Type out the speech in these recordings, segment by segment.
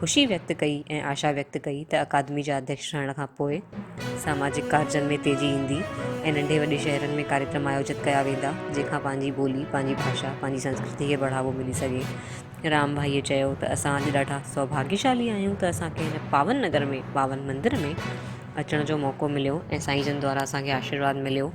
خوشي ويڪت ڪئي ۽ آشا ويڪت ڪئي ته اڪادمي جا اڌيڪش ٺهڻ کان پوء ساماجڪ ڪارجن ۾ تيزي ايندي ۽ ننڍي وڏي شهرن ۾ ڪاريڪرم آيوجت ڪيا ويندا جنهن کان پنهنجي ٻولي پنهنجي ڀاشا پنهنجي سنسڪرتي کي بڙهاوو ملي سگهي رام ڀائيء چيو ته اسان اڄ ڏاڍا سوڀاگيشالي آهيون ته اسان کي هن پاون نگر ۾ پاون مندر ۾ اچڻ جو موقعو مليو ۽ سائين جن دوارا اسان کي آشيرواد مليو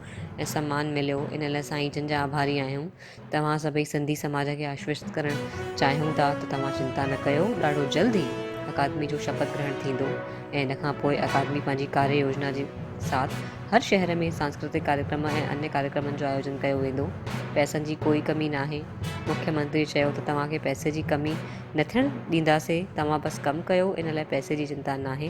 ۽ سمان مليو ان لاء سائين جن جا آڀاري آهيون توهان سڀئي سنڌي سماج کي آشوست ڪرڻ چاهيون ٿا ته توهان چنتا نه ڪيو ڏاڍو جلد ئي اڪادمي جو شپٿ گرهڻ ٿيندو ۽ ان کان پوء اڪادمي پنهنجي ڪاري يوجنا جي ساٿ هر شهر ۾ سانسڪرتڪ ڪاريڪرم ۽ انيه ڪاريڪرمن جو آيوجن ڪيو ويندو پئسن جي ڪوئي ڪمي ناهي مکي منتري چيو ته توهان کي پئسي جي ڪمي نه ٿيڻ ڏينداسي توهان بس ڪم ڪيو ان لاء پئسي جي چنتا ناهي.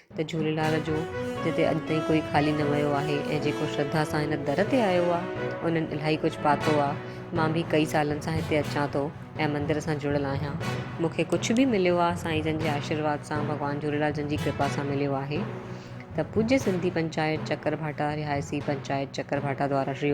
ته جهوليلال جو جتي اڄ تائين ڪوئي خالي نه ويو آهي ۽ جيڪو شرڌا سان هن در تي آيو آ انهن الاهي ڪجهه پاتو آ مان به ڪئي سالن سان هتي اچان ٿو ۽ مندر سان جڙيل آهيان مون کي ڪجهه به مليو آ سائين جن جي آشيرواد سان ڀڳوان جهوليلال جن جي ڪرپا سان مليو آهي ته پوڄي سنڌي پنچائت چڪر ڀاٽا رهائسي پنچائت چڪر ڀاٽا دوارا شري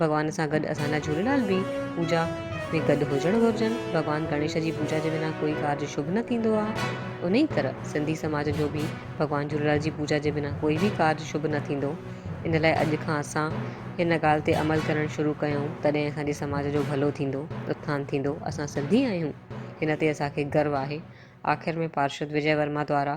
ڀڳوان سان گڏ اسان لاء جهوليلال به پوڄا ۾ گڏ هجڻ گهرجن. ڀڳوان گڻيش جي پوڄا جي بنا ڪوئي ڪارج شڀ نه ٿيندو آهي. انهيء طرح سنڌي سماج جو به ڀڳوان جهوليلال جي پوڄا جي بنا ڪوئي به ڪارج شڀ نه ٿيندو. ان لاء اڄ کان اسان هن ڳالهه تي عمل ڪرڻ شروع ڪيون تڏهن اسان جي سماج جو ڀلو ٿيندو، اٿان ٿيندو. اسان سنڌي آهيون هن تي اسان کي گرو آهي. آخر ۾ پارشد وجئه ورما دوارا